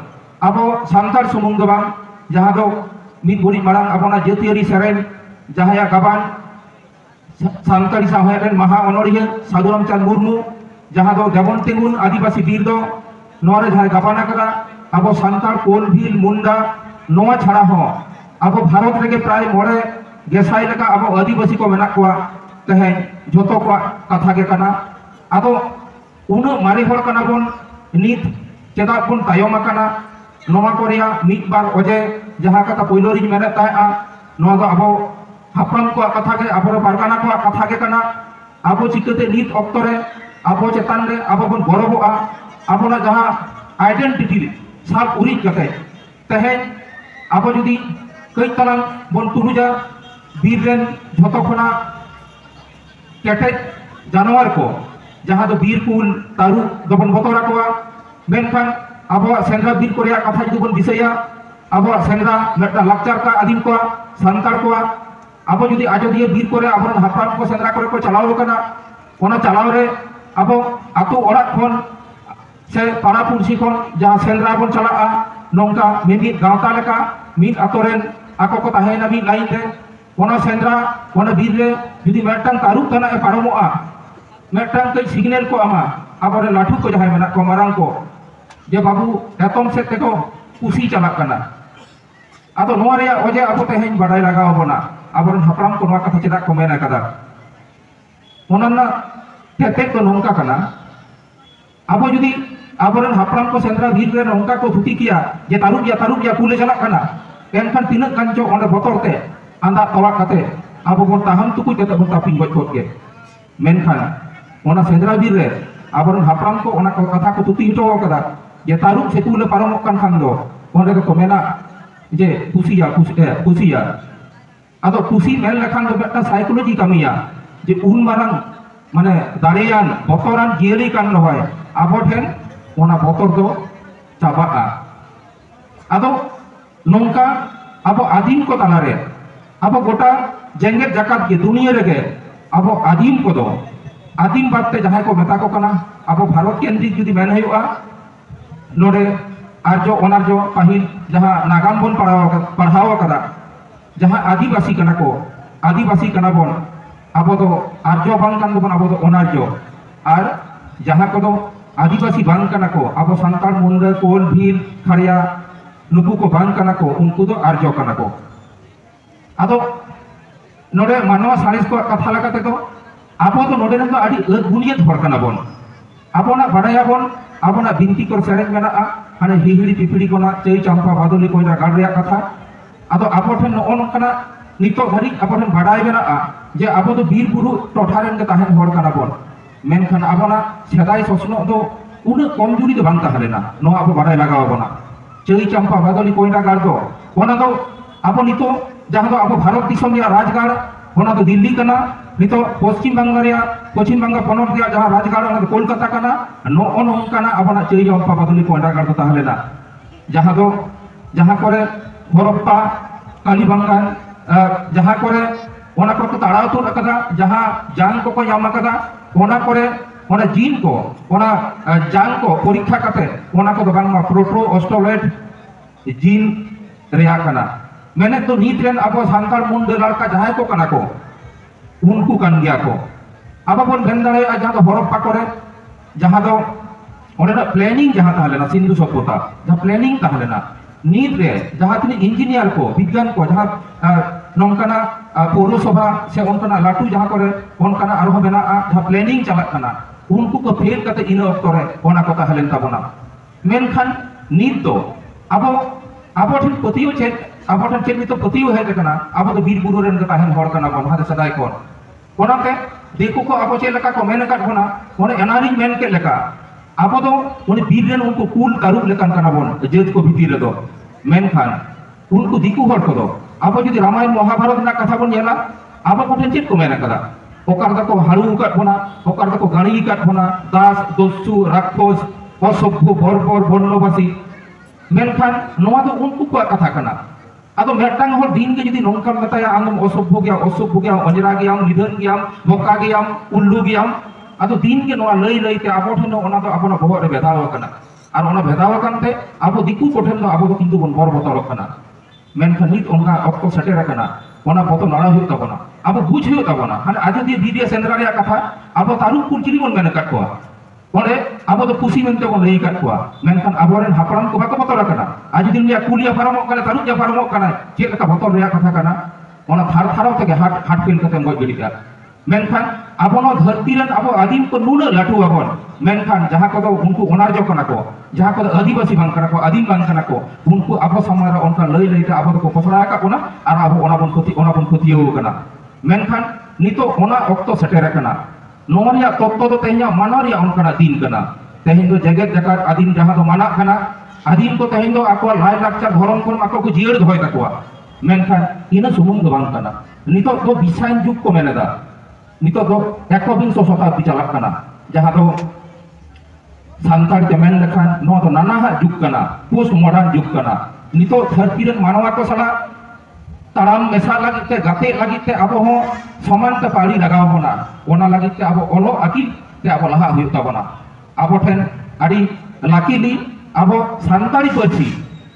ᱟᱵᱚ ᱥᱟᱱᱛᱟᱲ ᱥᱩᱢᱩᱝ ᱫᱚ ᱵᱟᱝ ᱡᱟᱦᱟᱸ ᱫᱚ ᱢᱤᱫ ᱜᱷᱩᱲᱤ ᱢᱟᱲᱟᱝ ᱟᱵᱚᱱᱟᱜ ᱡᱟᱹᱛᱤᱭᱟᱹᱨᱤ ᱥᱮᱨᱮᱧ ᱡᱟᱦᱟᱸᱭᱟᱜ ᱜᱟᱵᱟᱱ ᱥᱟᱱᱛᱟᱲᱤ ᱥᱟᱶᱦᱮᱫ ᱨᱮᱱ ᱢᱟᱦᱟ ᱚᱱᱚᱲᱦᱤᱭᱟᱹ ᱥᱟᱹᱫᱷᱩ ᱨᱟᱢᱪᱟᱸᱫᱽ ᱢᱩᱨᱢᱩ ᱡᱟᱦᱟᱸ ᱫᱚ ᱫᱮᱵᱚᱱ ᱛᱤᱸᱜᱩᱱ ᱟᱹᱫᱤᱵᱟᱹᱥᱤ ᱵᱤᱨ ᱫᱚ ᱱᱚᱣᱟ ᱨᱮ ᱡᱟᱦᱟᱸᱭ ᱜᱟᱵᱟᱱ ᱟᱠᱟᱫᱟ ᱟᱵᱚ ᱥᱟᱱᱛᱟᱲ ᱠᱳᱞ ᱵᱷᱤᱞ ᱢᱩᱱᱰᱟ ᱱᱚᱣᱟ ᱪᱷᱟᱲᱟ ᱦᱚᱸ ᱟᱵᱚ ᱵᱷᱟᱨᱚᱛ ᱨᱮᱜᱮ ᱯᱨᱟᱭ ᱢᱚᱬᱮ ᱜᱮᱥᱟᱭ ᱞᱮᱠᱟ ᱟᱵᱚ ᱟᱹᱫᱤᱵᱟᱹᱥᱤ ᱠᱚ ᱢᱮᱱᱟᱜ ᱠᱚᱣᱟ ᱛᱮᱦᱮᱧ ᱡᱷᱚᱛᱚ ᱠᱚᱣᱟᱜ ᱠᱟᱛᱷᱟ ᱜᱮ ᱠᱟᱱᱟ ᱟᱫᱚ ᱩᱱᱟᱹᱜ ᱢᱟᱨᱮ ᱦᱚᱲ ᱠᱟᱱᱟ ᱵᱚᱱ ᱱᱤᱛ ᱪᱮᱫᱟᱜ ᱵᱚᱱ ᱛᱟᱭᱚᱢ ᱟᱠᱟᱱᱟ ᱱᱚᱣᱟ ᱠᱚ ᱨᱮᱭᱟᱜ ᱢᱤᱫ ᱵᱟᱨ ᱚᱡᱮ ᱡᱟᱦᱟᱸ ᱠᱟᱛᱷᱟ ᱯᱳᱭᱞᱳ ᱨᱤᱧ ᱢᱮᱱᱮᱫ ᱛᱟᱦᱮᱸᱫᱼᱟ ᱱᱚᱣᱟ ᱫᱚ ᱟᱵᱚ ᱦᱟᱯᱲᱟᱢ ᱠᱚᱣᱟᱜ ᱠᱟᱛᱷᱟ ᱜᱮ ᱟᱵᱚᱨᱮᱱ ᱯᱟᱨᱜᱟᱱᱟ ᱠᱚᱣᱟᱜ ᱠᱟᱛᱷᱟ ᱜᱮ ᱠᱟᱱᱟ ᱟᱵᱚ ᱪᱤᱠᱟᱹᱛᱮ ᱱᱤᱛ ᱚᱠᱛᱚ ᱨᱮ ᱟᱵᱚ ᱪᱮᱛᱟᱱ ᱨᱮ ᱟᱵᱚ ᱵᱚᱱ ᱜᱚᱨᱚᱵᱚᱜᱼᱟ ᱟᱵᱚᱱᱟᱜ ᱡᱟᱦᱟᱸ ᱟᱭᱰᱮᱱᱴᱤᱴᱤ ᱥᱟᱵ ᱩᱨᱤᱡ ᱠᱟᱛᱮ ᱛᱮᱦᱮᱧ ᱟᱵᱚ ᱡᱩᱫᱤ ᱠᱟᱹᱡ ᱛᱟᱞᱟᱝ ᱵᱚᱱ ᱛᱩᱞᱩᱡᱟ ᱵᱤᱨ ᱨᱮᱱ ᱡᱷᱚᱛᱚ ᱠᱷᱚᱱᱟᱜ ᱠᱮᱴᱮᱡ ᱡᱟᱱᱣᱟᱨ ᱠᱚ ᱡᱟᱦᱟᱸ ᱫᱚ ᱵᱤᱨ ᱠᱩᱞ ᱛᱟᱹᱨᱩᱵ ᱫᱚᱵᱚᱱ ᱵᱚᱛᱚᱨ ᱟᱠᱚᱣᱟ ᱢᱮᱱᱠᱷᱟᱱ ᱟᱵᱚᱣᱟᱜ ᱥᱮᱸᱫᱽᱨᱟ ᱵᱤᱨ ᱠᱚ ᱨᱮᱭᱟᱜ ᱠᱟᱛᱷᱟ ᱡᱩᱫᱤ ᱵᱚᱱ ᱫᱤᱥᱟᱹᱭᱟ ᱟᱵᱚᱣᱟᱜ ᱥᱮᱸᱫᱽᱨᱟ ᱢᱤᱫᱴᱟᱝ ᱞᱟᱠᱪᱟᱨ ᱠᱟᱱᱟ ᱟᱹᱫᱤᱢ ᱠᱚᱣᱟᱜ ᱥᱟᱱᱛᱟᱲ ᱠᱚᱣᱟᱜ ᱟᱵᱚ ᱡᱩᱫᱤ ᱟᱡᱚᱫᱤᱭᱟᱹ ᱵᱤᱨ ᱠᱚᱨᱮ ᱟᱵᱚᱨᱮᱱ ᱦᱟᱯᱲᱟᱢ ᱠᱚ ᱥᱮᱸᱫᱽᱨᱟ ᱠᱚᱨᱮ ᱠᱚ ᱪᱟᱞᱟᱣ ᱟᱠᱟᱱᱟ ᱚᱱᱟ ᱪᱟᱞᱟᱣ ᱨᱮ ᱟᱵᱚ ᱟᱛᱳ ᱚᱲᱟᱜ ᱠᱷᱚᱱ ᱥᱮ ᱯᱟᱲᱟ ᱯᱩᱲᱥᱤ ᱠᱷᱚᱱ ᱡᱟᱦᱟᱸ ᱥᱮᱸᱫᱽᱨᱟ ᱵᱚᱱ ᱪᱟᱞᱟᱜᱼᱟ ᱱᱚᱝᱠᱟ ᱢᱤᱢᱤᱫ ᱜᱟᱶᱛᱟ ᱞᱮᱠᱟ ᱢᱤᱫ ᱟᱛᱳ ᱨᱮᱱ ᱟᱠᱚ ᱠᱚ ᱛᱟᱦᱮᱸᱭᱮᱱᱟ ᱢᱤᱫ ᱞᱟᱭᱤᱱ ᱨᱮ ᱚᱱᱟ ᱥᱮᱸᱫᱽᱨᱟ ᱚᱱᱟ ᱵᱤᱨ ᱨᱮ ᱡᱩᱫᱤ ᱢᱤᱫᱴᱟᱝ ᱛᱟᱹᱨᱩᱵ ᱛᱟᱱᱟᱜ ᱮ ᱯᱟᱨᱚᱢᱚᱜᱼᱟ ᱢᱤᱫᱴᱟᱝ ᱠᱟᱹᱡ ᱥᱤᱜᱽᱱᱮᱞ ᱠᱚ ᱮᱢᱟ ᱟᱵᱚᱨᱮᱱ ᱞᱟᱹᱴᱩ ᱠᱚ ᱡᱟᱦᱟᱸᱭ ᱢᱮᱱᱟᱜ ᱠᱚ ᱢᱟᱨᱟᱝ ᱠᱚ ᱡᱮ ᱵᱟᱹᱵᱩ ᱮᱛᱚᱢ ᱥᱮᱫ ᱛᱮᱠᱚ ᱠᱩᱥᱤ ᱪᱟᱞᱟᱜ ᱠᱟᱱᱟ ᱟᱫᱚ ᱱᱚᱣᱟ ᱨᱮᱭᱟᱜ ᱚᱡᱮ ᱟᱵᱚ ᱛᱮᱦᱮᱧ ᱵᱟᱰᱟᱭ ᱞᱟᱜᱟᱣ ᱵᱚᱱᱟ ᱟᱵᱚᱨᱮᱱ ᱦᱟᱯᱲᱟᱢ ᱠᱚ ᱱᱚᱣᱟ ᱠᱟᱛᱷᱟ ᱪᱮᱫᱟᱜ ᱠᱚ ᱢᱮᱱ ᱟᱠᱟᱫᱟ ᱚᱱᱟ ᱨᱮᱱᱟᱜ ᱛᱮᱛᱮᱫ ᱫᱚ ᱱᱚᱝᱠᱟ ᱠᱟᱱᱟ ᱟᱵᱚ ᱡᱩᱫᱤ ᱟᱵᱚᱨᱮᱱ ᱦᱟᱯᱲᱟᱢ ᱠᱚ ᱥᱮᱸᱫᱽᱨᱟ ᱵᱤᱨ ᱨᱮ ᱱᱚᱝᱠᱟ ᱠᱚ ᱛᱷᱩᱛᱤ ᱠᱮᱭᱟ ᱡᱮ ᱛᱟᱹᱨᱩᱵ ᱭᱟ ᱛᱟᱹᱨᱩᱵ ᱭᱟ ᱠᱩᱞᱮ ᱪᱟᱞᱟᱜ ᱠᱟᱱᱟ ᱮᱱᱠᱷᱟᱱ ᱛᱤᱱᱟᱹᱜ ᱜᱟᱱ ᱪᱚ ᱚᱸᱰᱮ ᱵᱚᱛᱚᱨ ᱛᱮ ᱟᱸᱫᱟᱜ ᱛᱚᱣᱟᱜ ᱠᱟᱛᱮ ᱟᱵᱚ ᱵᱚᱱ ᱛᱟᱦᱟᱢ ᱛᱩᱠᱩᱡ ᱠᱟᱛᱮ ᱵᱚᱱ ᱛᱟᱹᱯᱤᱧ ᱜᱚᱡ ᱠᱚᱜ ᱜᱮ ᱢᱮᱱᱠᱷᱟᱱ ᱚᱱᱟ ᱥᱮᱸᱫᱽᱨᱟ ᱵᱤᱨ ᱨᱮ ᱟᱵᱚᱨᱮᱱ ᱦᱟᱯᱲᱟᱢ ᱠᱚ ᱚᱱᱟ ᱠᱚ ᱠᱟᱛᱷᱟ ᱠᱚ ᱛᱩᱛᱤ ᱦᱚᱴᱚ ᱟᱠᱟᱫᱟ ᱡᱮ ᱛᱟᱹᱨᱩᱵ ᱥᱮ ᱠᱩᱞᱮ ᱯᱟᱨᱚᱢᱚᱜ ᱠᱟᱱ ᱠᱷᱟᱱ ᱫᱚ ᱚᱸᱰᱮ ᱫᱚᱠᱚ ᱢᱮᱱᱟ ᱡᱮ ᱯᱩᱥᱤᱭᱟ ᱯᱩᱥᱤᱭᱟ ᱟᱫᱚ ᱯᱩᱥᱤ ᱢᱮᱱ ᱞᱮᱠᱷᱟᱱ ᱫᱚ ᱢᱤᱫᱴᱟᱝ ᱥᱟᱭᱠᱳᱞᱚᱡᱤ ᱠᱟᱹᱢᱤᱭᱟ ᱡᱮ ᱩᱱ ᱢᱟᱨᱟᱝ ᱢᱟᱱᱮ ᱫᱟᱲᱮᱭᱟᱱ ᱵᱚᱛᱚᱨᱟᱱ ᱡᱤᱭᱟᱹᱞᱤ ᱠᱟᱱ ᱨᱮᱦᱚᱸᱭ ᱟᱵᱚ ᱴᱷᱮᱱ ᱚᱱᱟ ᱵᱚᱛᱚᱨ ᱫᱚ ᱪᱟᱵᱟᱜᱼᱟ ᱟᱫᱚ ᱱᱚᱝᱠᱟ ᱟᱵᱚ ᱟᱫᱤᱢ ᱠᱚ ᱛᱟᱞᱟᱨᱮ ᱟᱵᱚ ᱜᱚᱴᱟ ᱡᱮᱜᱮᱛ ᱡᱟᱠᱟᱛ ᱜᱮ ᱫᱩᱱᱤᱭᱟᱹ ᱨᱮᱜᱮ ᱟᱵᱚ ᱟᱫᱤᱢ ᱠᱚᱫᱚ ᱟᱫᱤᱢ ᱵᱟᱫ ᱛᱮ ᱡᱟᱦᱟᱸᱭ ᱠᱚ ᱢᱮᱛᱟ ᱠᱚ ᱠᱟᱱᱟ ᱟᱵᱚ ᱵᱷᱟᱨᱚᱛ ᱠᱮᱱᱫᱨᱤᱠ ᱡᱩᱫᱤ ᱢᱮᱱ ᱦᱩᱭᱩᱜᱼᱟ ᱱᱚᱰᱮ ᱟᱨᱡᱚ ᱚᱱᱟᱨᱡᱚ ᱯᱟᱹᱦᱤᱞ ᱡᱟᱦᱟᱸ ᱱᱟᱜᱟᱢ ᱵᱚᱱ ᱯᱟᱲᱦᱟᱣ ᱟᱠᱟᱫᱟ ᱡᱟᱦᱟᱸ ᱟᱹᱫᱤᱵᱟᱹᱥᱤ ᱠᱟᱱᱟ ᱠᱚ ᱟᱹᱫᱤᱵᱟᱹᱥᱤ ᱠᱟᱱᱟ ᱵᱚᱱ ᱟᱵᱚ ᱫᱚ ᱟᱨᱡᱚ ᱵᱟᱝ ᱠᱟᱱ ᱫᱚᱵᱚᱱ ᱟᱵᱚ ᱫᱚ ᱚᱱᱟᱨᱡᱚ ᱟᱨ ᱡᱟᱦᱟᱸ ᱠᱚᱫᱚ ᱟᱹᱫᱤᱵᱟᱹᱥᱤ ᱵᱟᱝ ᱠᱟᱱᱟ ᱠᱚ ᱟᱵᱚ ᱥᱟᱱᱛᱟᱲ ᱢᱩᱱᱰᱟᱹ ᱠᱳᱞ ᱵᱷᱤᱞ ᱠᱷᱟᱲᱭᱟ ᱱᱩᱠᱩ ᱠᱚ ᱵᱟᱝ ᱠᱟᱱᱟ ᱠᱚ ᱩᱱᱠᱩ ᱫᱚ ᱟᱨᱡᱚ ᱠᱟᱱᱟ ᱠᱚ ᱟᱫᱚ ᱱᱚᱰᱮ ᱢᱟᱱᱣᱟ ᱥᱟᱬᱮᱥ ᱠᱚᱣᱟᱜ ᱠᱟᱛᱷᱟ ᱞᱮᱠᱟ ᱛᱮᱫᱚ ᱟᱵᱚ ᱫᱚ ᱱᱚᱰᱮ ᱨᱮᱱ ᱫᱚ ᱟᱹᱰᱤ ᱟᱹᱫ ᱵᱩᱱᱤᱭᱟᱹᱫ ᱦᱚᱲ ᱠᱟᱱᱟ ᱵᱚᱱ ᱟᱵᱚᱱᱟᱜ ᱵᱟᱰᱟᱭᱟᱵᱚᱱ ᱟᱵᱚᱱᱟᱜ ᱵᱤᱱᱛᱤ ᱠᱚ ᱥᱮᱨᱮᱧ ᱢᱮᱱᱟᱜᱼᱟ ᱦᱟᱱᱮ ᱦᱤᱦᱤᱲᱤ ᱯᱤᱯᱤᱲᱤ ᱠᱚᱱᱟᱜ ᱪᱟᱹᱭ ᱪᱟᱢᱯᱟ ᱵᱟᱫᱚᱞᱤ ᱠᱚ ᱨᱟᱜᱟᱲ ᱨᱮᱭᱟᱜ ᱠᱟᱛᱷᱟ ᱟᱫᱚ ᱟᱵᱚ ᱴᱷᱮᱱ ᱱᱚᱜᱼᱚ ᱱᱚᱝᱠᱟᱱᱟᱜ ᱱᱤᱛᱚᱜ ᱫᱷᱟᱹᱨᱤᱡ ᱟᱵᱚ ᱴᱷᱮᱱ ᱵᱟᱰᱟᱭ ᱢᱮᱱᱟᱜᱼᱟ ᱡᱮ ᱟᱵᱚ ᱫᱚ ᱵᱤᱨ ᱵᱩᱨᱩ ᱴᱚᱴᱷᱟ ᱨᱮᱱ ᱜᱮ ᱛᱟᱦᱮᱱ ᱦᱚᱲ ᱠᱟᱱᱟ ᱵᱚᱱ ᱢᱮᱱᱠᱷᱟᱱ ᱟᱵᱚᱱᱟᱜ ᱥᱮᱫᱟᱭ ᱥᱚᱥᱱᱚᱜ ᱫᱚ ᱩᱱᱟᱹᱜ ᱠᱚᱢ ᱡᱩᱨᱤ ᱫᱚ ᱵᱟᱝ ᱛᱟᱦᱮᱸ ᱞᱮᱱᱟ ᱱᱚᱣᱟ ᱟᱵᱚ ᱵᱟᱰᱟᱭ ᱞᱟᱜᱟᱣ ᱟᱵᱚᱱᱟ ᱪᱟᱹᱭ ᱪᱟᱢᱯᱟ ᱵᱟᱫᱚᱞᱤ ᱠᱚᱭᱰᱟ ᱜᱟᱲ ᱫᱚ ᱚᱱᱟ ᱫᱚ ᱟᱵᱚ ᱱᱤᱛᱚᱜ ᱡᱟᱦᱟᱸ ᱫᱚ ᱟᱵᱚ ᱵᱷᱟᱨᱚᱛ ᱫᱤᱥᱚᱢ ᱨᱮᱭᱟᱜ ᱨᱟᱡᱽᱜᱟᱲ ᱚᱱᱟ ᱫᱚ ᱫᱤᱞᱞᱤ ᱠᱟᱱᱟ ᱱᱤᱛᱚᱜ ᱯᱚᱥᱪᱤᱢ ᱵᱟᱝᱞᱟ ᱨᱮᱭᱟᱜ ᱯᱚᱪᱷᱤᱢ ᱵᱟᱝᱞᱟ ᱯᱚᱱᱚᱛ ᱨᱮᱭᱟᱜ ᱡᱟᱦᱟᱸ ᱨᱟᱡᱽᱜᱟᱲ ᱚᱱᱟ ᱫᱚ ᱠᱳᱞᱠᱟᱛᱟ ᱠᱟᱱᱟ ᱱᱚᱜᱼᱚ ᱱᱚᱝᱠᱟᱱᱟᱜ ᱟᱵᱚᱱᱟᱜ ᱪᱟᱹᱭ ᱪᱟᱢᱯᱟ ᱵᱟᱫᱚᱞᱤ ᱠᱚᱭᱰᱟ ᱜᱟᱲ ᱫᱚ ᱛᱟᱦᱮᱸ ᱞᱮᱱᱟ ᱡᱟᱦᱟᱸ ᱫᱚ ᱡᱟᱦᱟᱸ ᱠᱚᱨᱮ ᱦᱚᱨᱚᱯᱯᱟ ᱠᱟᱞᱤᱵᱟᱝᱜᱟᱱ ᱡᱟᱦᱟᱸ ᱠᱚᱨᱮ ᱚᱱᱟ ᱠᱚᱨᱮ ᱠᱚ ᱛᱟᱲᱟᱣ ᱛᱩᱫ ᱟᱠᱟᱫᱟ ᱡᱟᱦᱟᱸ ᱡᱟᱝ ᱠᱚᱠᱚ ᱧᱟᱢ ᱟᱠᱟᱫᱟ ᱚᱱᱟ ᱠᱚᱨᱮ ᱚᱱᱟ ᱡᱤᱱ ᱠᱚ ᱚᱱᱟ ᱡᱟᱝ ᱠᱚ ᱯᱚᱨᱤᱠᱷᱟ ᱠᱟᱛᱮ ᱚᱱᱟ ᱠᱚᱫᱚ ᱵᱟᱝᱢᱟ ᱯᱨᱳᱴᱳ ᱚᱥᱴᱳᱞᱮᱴ ᱡᱤᱱ ᱨᱮᱭᱟᱜ ᱠᱟᱱᱟ ᱢᱮᱱᱮᱫ ᱫᱚ ᱱᱤᱛ ᱨᱮᱱ ᱟᱵᱚ ᱥᱟᱱᱛᱟᱲ ᱢᱩᱱᱰᱟᱹ ᱞᱟᱲᱠᱟ ᱡᱟᱦᱟᱸᱭ ᱠᱚ ᱠᱟᱱᱟ ᱠᱚ ᱩᱱᱠᱩ ᱠᱟᱱ ᱜᱮᱭᱟ ᱠᱚ ᱟᱵᱚ ᱵᱚᱱ ᱢᱮᱱ ᱫᱟᱲᱮᱭᱟᱜᱼᱟ ᱡᱟᱦᱟᱸ ᱫᱚ ᱦᱚᱨᱚᱯᱯᱟ ᱠᱚᱨᱮ ᱡᱟᱦᱟᱸ ᱫᱚ ᱚᱸᱰᱮᱱᱟᱜ ᱯᱞᱮᱱᱤᱝ ᱡᱟᱦᱟᱸ ᱛᱟᱦᱮᱸ ᱞᱮᱱᱟ ᱥᱤᱱᱫᱷᱩ ᱥᱚᱵᱷᱚᱛᱟ ᱡᱟᱦᱟᱸ ᱯᱞᱮᱱᱤᱝ ᱛᱟᱦᱮᱸ ᱞᱮᱱᱟ ᱱᱤᱛ ᱨᱮ ᱡᱟᱦᱟᱸ ᱛᱤᱱᱟᱹᱜ ᱤᱧᱡᱤᱱᱤᱭᱟᱨ ᱠᱚ ᱵᱤᱜᱽᱜᱟᱱ ᱠᱚ ᱡᱟᱦᱟᱸ ᱱᱚᱝᱠᱟᱱᱟᱜ ᱯᱳᱨᱚᱥᱚᱵᱷᱟ ᱥᱮ ᱚᱱᱠᱟᱱᱟᱜ ᱞᱟᱹᱴᱩ ᱡᱟᱦᱟᱸ ᱠᱚᱨᱮ ᱚᱱᱠᱟᱱᱟᱜ ᱟᱨᱦᱚᱸ ᱢᱮᱱᱟᱜᱼᱟ ᱡᱟᱦᱟᱸ ᱯᱞᱮᱱᱤᱝ ᱪᱟᱞᱟᱜ ᱠᱟᱱᱟ ᱩᱱᱠᱩ ᱠᱚ ᱯᱷᱮᱞ ᱠᱟᱛᱮ ᱤᱱᱟᱹ ᱚᱠᱛᱚ ᱨᱮ ᱚᱱᱟ ᱠᱚ ᱛᱟᱦᱮᱸ ᱞᱮᱱ ᱛᱟᱵᱚᱱᱟ ᱢᱮᱱᱠᱷᱟᱱ ᱱᱤᱛ ᱫᱚ ᱟᱵᱚ ᱟᱵᱚ ᱴᱷᱮᱱ ᱯᱟᱹᱛᱭᱟᱹᱣ ᱪᱮᱫ ᱟᱵᱚ ᱴᱷᱮᱱ ᱪᱮᱫ ᱱᱤᱛᱚᱜ ᱯᱟᱹᱛᱭᱟᱹᱣ ᱦᱮᱡ ᱟᱠᱟᱱᱟ ᱟᱵᱚ ᱫᱚ ᱵᱤᱨ ᱵᱩᱨᱩ ᱨᱮᱱ ᱛᱟᱦᱮᱱ ᱦᱚᱲ ᱠᱟᱱᱟ ᱵᱚᱱ ᱦᱟᱱᱮ ᱥᱮᱫᱟᱭ ᱠᱷᱚᱱ ᱚᱱᱟᱛᱮ ᱫᱤᱠᱩ ᱠᱚ ᱟᱵᱚ ᱪᱮᱫ ᱞᱮᱠᱟ ᱠᱚ ᱢᱮᱱ ᱟᱠᱟᱫ ᱵᱚᱱᱟ ᱚᱱᱮ ᱮᱱᱟᱱᱤᱧ ᱢᱮᱱ ᱠᱮᱫ ᱞᱮᱠᱟ ᱟᱵᱚ ᱫᱚ ᱩᱱᱤ ᱵᱤᱨ ᱨᱮᱱ ᱩᱱᱠᱩ ᱠᱩᱞ ᱛᱟᱹᱨᱩᱵ ᱞᱮᱠᱟᱱ ᱠᱟᱱᱟ ᱵᱚᱱ ᱡᱟᱹᱛ ᱠᱚ ᱵᱷᱤᱛᱤᱨ ᱨᱮᱫᱚ ᱢᱮᱱᱠᱷᱟᱱ ᱩᱱᱠᱩ ᱫᱤᱠᱩ ᱦᱚᱲ ᱠᱚᱫᱚ ᱟᱵᱚ ᱡᱩᱫᱤ ᱨᱟᱢᱟᱭᱚᱱ ᱢᱚᱦᱟᱵᱷᱟᱨᱚᱛ ᱨᱮᱱᱟᱜ ᱠᱟᱛᱷᱟ ᱵᱚᱱ ᱧᱮᱞᱟ ᱟᱵᱚ ᱠᱚᱴᱷᱮᱱ ᱪᱮᱫ ᱠᱚ ᱢᱮᱱ ᱟᱠᱟᱫᱟ ᱚᱠᱟ ᱨᱮᱫᱚ ᱠᱚ ᱦᱟᱹᱲᱩ ᱟᱠᱟᱫ ᱵᱚᱱᱟ ᱚᱠᱟ ᱨᱮᱫᱚ ᱠᱚ ᱜᱟᱹᱲᱤ ᱟᱠᱟᱫ ᱵᱚᱱᱟ ᱫᱟᱥ ᱫᱚᱥᱩ ᱨᱟᱠᱠᱷᱚᱥ ᱚᱥᱚᱵᱷᱭᱚ ᱵᱚᱨᱵᱚᱨ ᱵᱚᱨᱱᱚᱵᱟᱥᱤ ᱢᱮᱱᱠᱷᱟᱱ ᱱᱚᱣᱟ ᱫᱚ ᱩᱱᱠᱩ ᱠᱚᱣᱟᱜ ᱠᱟᱛᱷᱟ ᱠᱟᱱᱟ ᱟᱫᱚ ᱢᱤᱫᱴᱟᱝ ᱦᱚᱲ ᱫᱤᱱ ᱜᱮ ᱡᱩᱫᱤ ᱱᱚᱝᱠᱟᱢ ᱢᱮᱛᱟᱭᱟ ᱟᱢ ᱫᱚᱢ ᱚᱥᱚᱵᱷᱭᱚ ᱜᱮᱭᱟ ᱚᱥᱚᱵᱷᱭᱚ ᱜᱮᱭᱟ ᱚᱸᱡᱽᱨᱟ ᱜᱮᱭᱟᱢ ᱱᱤᱫᱷᱟᱹᱱ ᱜᱮᱭᱟᱢ ᱵᱚᱠᱟ ᱜᱮᱭᱟᱢ ᱩᱞᱞᱩ ᱜᱮᱭᱟᱢ ᱟᱫᱚ ᱫᱤᱱ ᱜᱮ ᱱᱚᱣᱟ ᱞᱟᱹᱭ ᱞᱟᱹᱭ ᱛᱮ ᱟᱵᱚ ᱴᱷᱮᱱ ᱚᱱᱟ ᱫᱚ ᱟᱵᱚᱱᱟᱜ ᱵᱚᱦᱚᱜ ᱨᱮ ᱵᱮᱫᱷᱟᱣ ᱟᱠᱟᱱᱟ ᱟᱨ ᱚᱱᱟ ᱵᱮᱫᱷᱟᱣ ᱟᱠᱟᱱ ᱛᱮ ᱟᱵᱚ ᱫᱤᱠᱩ ᱠᱚ ᱴᱷᱮᱱ ᱫᱚ ᱟᱵᱚ ᱫᱚ ᱠᱤᱱᱛᱩ ᱵᱚᱱ ᱵᱚᱨ ᱵᱚᱛᱚᱨᱚᱜ ᱠᱟᱱᱟ ᱢᱮᱱᱠᱷᱟᱱ ᱱᱤᱛ ᱚᱱᱠᱟ ᱚᱠᱛᱚ ᱥᱮᱴᱮᱨ ᱟᱠᱟᱱᱟ ᱚᱱᱟ ᱵᱚᱛᱚᱨ ᱞᱟᱲᱟᱣ ᱦᱩᱭᱩᱜ ᱛᱟᱵᱚᱱᱟ ᱟᱵᱚ ᱵᱩᱡᱽ ᱦᱩᱭᱩᱜ ᱛᱟᱵᱚᱱᱟ ᱦᱟᱱᱮ ᱟᱡᱚᱫᱤᱭᱟᱹ ᱵᱤᱨ ᱨᱮᱭᱟᱜ ᱥᱮᱸᱫᱽᱨᱟ ᱨᱮᱭᱟᱜ ᱠᱟᱛᱷᱟ ᱟᱵᱚ ᱛᱟᱹᱨᱩᱵ ᱠᱚ ᱪᱤᱞᱤ ᱵᱚᱱ ᱢᱮᱱ ᱟᱠᱟᱫ ᱠᱚᱣᱟ ᱚᱸᱰᱮ ᱟᱵᱚ ᱫᱚ ᱯᱩᱥᱤ ᱢᱮᱱᱛᱮ ᱵᱚᱱ ᱞᱟᱹᱭ ᱟᱠᱟᱫ ᱠᱚᱣᱟ ᱢᱮᱱᱠᱷᱟᱱ ᱟᱵᱚᱨᱮᱱ ᱦᱟᱯᱲᱟᱢ ᱠᱚ ᱵᱟᱠᱚ ᱵᱚᱛᱚᱨ ᱟᱠᱟᱱᱟ ᱟᱨ ᱡᱩᱫᱤ ᱞᱟᱹᱭᱟ ᱠᱩᱞᱤᱭᱟ ᱯᱟᱨᱚᱢᱚᱜ ᱠᱟᱱᱟ ᱛᱟᱹᱨᱩᱵ ᱡᱟ ᱯᱟᱨᱚᱢᱚᱜ ᱠᱟᱱᱟ ᱪᱮᱫ ᱞᱮᱠᱟ ᱵᱚᱛᱚᱨ ᱨᱮᱭᱟᱜ ᱠᱟᱛᱷᱟ ᱠᱟᱱᱟ ᱚᱱᱟ ᱛᱷᱟᱨ ᱛᱷᱟᱨᱟᱣ ᱛᱮᱜᱮ ᱦᱟᱴ ᱦᱟᱴ ᱯᱮᱞ ᱠᱟᱛᱮᱢ ᱜᱚᱡ ᱜᱤᱰᱤ ᱠᱟᱜᱼᱟ ᱢᱮᱱᱠᱷᱟᱱ ᱟᱵᱚ ᱱᱚᱣᱟ ᱫᱷᱟᱹᱨᱛᱤ ᱨᱮᱱ ᱟᱵᱚ ᱟᱹᱫᱤᱢ ᱠᱚ ᱱᱩᱱᱟᱹᱜ ᱞᱟᱹᱴᱩ ᱟᱵᱚᱱ ᱢᱮᱱᱠᱷᱟᱱ ᱡᱟᱦᱟᱸ ᱠᱚᱫᱚ ᱩᱱᱠᱩ ᱚᱱᱟᱨᱡᱚ ᱠᱟᱱᱟ ᱠᱚ ᱡᱟᱦᱟᱸ ᱠᱚᱫᱚ ᱟᱹᱫᱤᱵᱟᱹᱥᱤ ᱵᱟᱝ ᱠᱟᱱᱟ ᱠᱚ ᱟᱹᱫᱤᱢ ᱵᱟᱝ ᱠᱟᱱᱟ ᱠᱚ ᱩᱱᱠᱩ ᱟᱵᱚ ᱥᱟᱢᱟᱝ ᱨᱮ ᱚᱱᱠᱟ ᱞᱟᱹᱭ ᱞᱟᱹᱭᱛᱮ ᱟᱵᱚ ᱫᱚᱠᱚ ᱯᱚᱥᱲᱟ ᱟᱠᱟᱫ ᱵᱚᱱᱟ ᱟᱨ ᱟᱵᱚ ᱚᱱᱟ ᱵᱚᱱ ᱯᱟᱹᱛᱭᱟᱹᱣ ᱚᱱᱟ ᱵᱚᱱ ᱯᱟᱹᱛᱭᱟᱹᱣ ᱠᱟᱱᱟ ᱢᱮᱱᱠᱷᱟᱱ ᱱᱤᱛᱚᱜ ᱚᱱᱟ ᱚᱠᱛᱚ ᱥᱮᱴᱮᱨ ᱟᱠᱟᱱᱟ ᱱᱚᱣᱟ ᱨᱮᱭᱟᱜ ᱛᱚᱛᱛᱚ ᱫᱚ ᱛᱮᱦᱮᱧᱟᱜ ᱢᱟᱱᱟ ᱨᱮᱭᱟᱜ ᱚᱱᱠᱟᱱᱟᱜ ᱫᱤᱱ ᱠᱟᱱᱟ ᱛᱮᱦᱮᱧ ᱫᱚ ᱡᱮᱜᱮᱛ ᱡᱟᱠᱟᱛ ᱟᱹᱫᱤᱢ ᱡᱟᱦᱟᱸ ᱫᱚ ᱢᱟᱱᱟᱜ ᱠᱟᱱᱟ ᱟᱹᱫᱤᱢ ᱠᱚ ᱛᱮᱦᱮᱧ ᱫᱚ ᱟᱠᱚᱣᱟᱜ ᱞᱟᱭ ᱞᱟᱠᱪᱟᱨ ᱫᱷᱚᱨᱚᱢ ᱠᱚᱨᱮ ᱟᱠᱚ ᱠᱚ ᱡᱤᱭᱟᱹᱲ ᱫᱚᱦᱚᱭ ᱛᱟᱠᱚᱣᱟ ᱢᱮᱱᱠᱷᱟᱱ ᱤᱱᱟᱹ ᱥᱩᱢᱩᱝ ᱫᱚ ᱵᱟᱝ ᱠᱟᱱᱟ ᱱᱤᱛᱚᱜ ᱫᱚ ᱵᱤᱥᱟᱭᱤᱱ ᱡᱩᱜᱽ ᱠᱚ ᱢᱮᱱᱮᱫᱟ ᱱᱤᱛᱚᱜ ᱫᱚ ᱮᱠᱚᱵᱤᱝᱥᱚ ᱥᱚᱛᱟᱵᱫᱤ ᱪᱟᱞᱟᱜ ᱠᱟᱱᱟ ᱡᱟᱦᱟᱸ ᱫᱚ ᱥᱟᱱᱛᱟᱲ ᱛᱮ ᱢᱮᱱ ᱞᱮᱠᱷᱟᱱ ᱱᱚᱣᱟ ᱫᱚ ᱱᱟᱱᱟᱦᱟᱜ ᱡᱩᱜᱽ ᱠᱟᱱᱟ ᱯᱳᱥᱴ ᱢᱚᱰᱟᱨᱱ ᱡᱩᱜᱽ ᱠᱟᱱᱟ ᱱᱤᱛᱚᱜ ᱫᱷᱟᱹᱨᱛᱤ ᱨᱮᱱ ᱢᱟᱱᱣᱟ ᱠᱚ ᱥᱟᱞᱟᱜ ᱛᱟᱲᱟᱢ ᱢᱮᱥᱟ ᱞᱟᱹᱜᱤᱫ ᱛᱮ ᱜᱟᱛᱮ ᱞᱟᱹᱜᱤᱫ ᱛᱮ ᱟᱵᱚ ᱦᱚᱸ ᱥᱚᱢᱟᱱ ᱛᱮ ᱯᱟᱹᱲᱤ ᱞᱟᱜᱟᱣ ᱵᱚᱱᱟ ᱚᱱᱟ ᱞᱟᱹᱜᱤᱫ ᱛᱮ ᱟᱵᱚ ᱚᱞᱚᱜ ᱟᱹᱠᱤᱞ ᱛᱮ ᱟᱵᱚ ᱞᱟᱦᱟᱜ ᱦᱩᱭᱩᱜ ᱛᱟᱵᱚᱱᱟ ᱟᱵᱚ ᱴᱷᱮᱱ ᱟᱹᱰᱤ ᱞᱟᱹᱠᱤᱞᱤ ᱟᱵᱚ ᱥᱟᱱᱛᱟᱲᱤ ᱯᱟᱹᱨᱥᱤ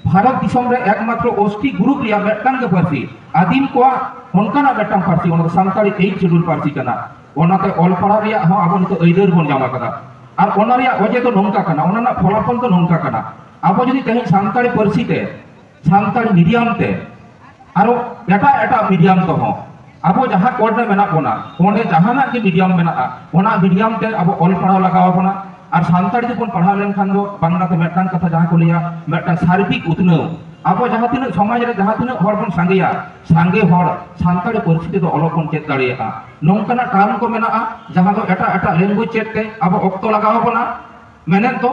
ᱵᱷᱟᱨᱚᱛ ᱫᱤᱥᱚᱢ ᱨᱮ ᱮᱠᱢᱟᱛᱨᱚ ᱳᱥᱴᱤ ᱜᱨᱩᱯ ᱨᱮᱭᱟᱜ ᱢᱤᱫᱴᱟᱝ ᱜᱮ ᱯᱟᱹᱨᱥᱤ ᱟᱹᱫᱤᱢ ᱠᱚᱣᱟᱜ ᱚᱱᱠᱟᱱᱟᱜ ᱢᱤᱫᱴᱟᱝ ᱯᱟᱹᱨᱥᱤ ᱚᱱᱟ ᱫᱚ ᱥᱟᱱᱛᱟᱲᱤ ᱮᱭᱤᱴ ᱥᱤᱰᱩᱞ ᱯᱟᱹᱨᱥᱤ ᱠᱟᱱᱟ ᱚᱱᱟᱛᱮ ᱚᱞ ᱯᱟᱲᱦᱟᱣ ᱨᱮᱭᱟᱜ ᱦᱚᱸ ᱟᱵᱚ ᱱᱤᱛᱚᱜ ᱟᱹᱭᱫᱟᱹᱨ ᱵᱚᱱ ᱧᱟᱢ ᱟᱠᱟᱫᱟ ᱟᱨ ᱚᱱᱟ ᱨᱮᱭᱟᱜ ᱚᱡᱮ ᱫᱚ ᱱᱚᱝᱠᱟ ᱠᱟᱱᱟ ᱚᱱᱟ ᱨᱮᱱᱟᱜ ᱯᱷᱚᱞᱟᱯᱷᱚᱞ ᱫᱚ ᱱᱚᱝᱠᱟ ᱠᱟᱱᱟ ᱟᱵᱚ ᱡᱩᱫᱤ ᱛᱮᱦᱮᱧ ᱥᱟᱱᱛᱟᱲᱤ ᱯᱟᱹᱨᱥᱤ ᱛᱮ ᱥᱟᱱᱛᱟᱲ ᱢᱤᱰᱤᱭᱟᱢ ᱛᱮ ᱟᱨᱚ ᱮᱴᱟᱜ ᱮᱴᱟᱜ ᱢᱤᱰᱤᱭᱟᱢ ᱛᱮᱦᱚᱸ ᱟᱵᱚ ᱡᱟᱦᱟᱸ ᱠᱚᱨ ᱨᱮ ᱢᱮᱱᱟᱜ ᱵᱚᱱᱟ ᱚᱸᱰᱮ ᱡᱟᱦᱟᱱᱟᱜ ᱜᱮ ᱢᱤᱰᱤᱭᱟᱢ ᱢᱮᱱᱟᱜᱼᱟ ᱚᱱᱟ ᱢᱤᱰᱤᱭᱟᱢ ᱛᱮ ᱟᱵᱚ ᱚᱞ ᱯᱟᱲᱦᱟᱣ ᱞᱟᱜᱟᱣ ᱵᱚᱱᱟ ᱟᱨ ᱥᱟᱱᱛᱟᱲ ᱛᱮᱵᱚᱱ ᱯᱟᱲᱦᱟᱣ ᱞᱮᱱᱠᱷᱟᱱ ᱫᱚ ᱵᱟᱝᱞᱟ ᱛᱮ ᱢᱤᱫᱴᱟᱝ ᱠᱟᱛᱷᱟ ᱡᱟᱦᱟᱸ ᱠᱚ ᱞᱟᱹᱭᱟ ᱢᱤᱫᱴᱟᱝ ᱥᱟᱨᱵᱤᱠ ᱩᱛᱱᱟᱹᱣ ᱟᱵᱚ ᱡᱟᱦᱟᱸ ᱛᱤᱱᱟᱹᱜ ᱥᱚᱢᱟᱡᱽ ᱨᱮ ᱡᱟᱦᱟᱸ ᱛᱤᱱᱟᱹᱜ ᱦᱚᱲ ᱵᱚᱱ ᱥᱟᱸᱜᱮᱭᱟ ᱥᱟᱸᱜᱮ ᱦᱚᱲ ᱥᱟᱱᱛᱟᱲᱤ ᱯᱟᱹᱨᱥᱤ ᱛᱮᱫᱚ ᱚᱞᱚᱜ ᱵᱚᱱ ᱪᱮᱫ ᱫᱟᱲᱮᱭᱟᱜᱼᱟ ᱱᱚᱝᱠᱟᱱᱟᱜ ᱴᱟᱨᱢ ᱠᱚ ᱢᱮᱱᱟᱜᱼᱟ ᱡᱟᱦᱟᱸ ᱫᱚ ᱮᱴᱟᱜ ᱮᱴᱟᱜ ᱞᱮᱝᱜᱩᱭᱮᱡᱽ ᱪᱮᱫ ᱛᱮ ᱟᱵᱚ ᱚᱠᱛᱚ ᱞᱟᱜᱟᱣ ᱵᱚᱱᱟ ᱢᱮᱱᱮᱫ ᱫᱚ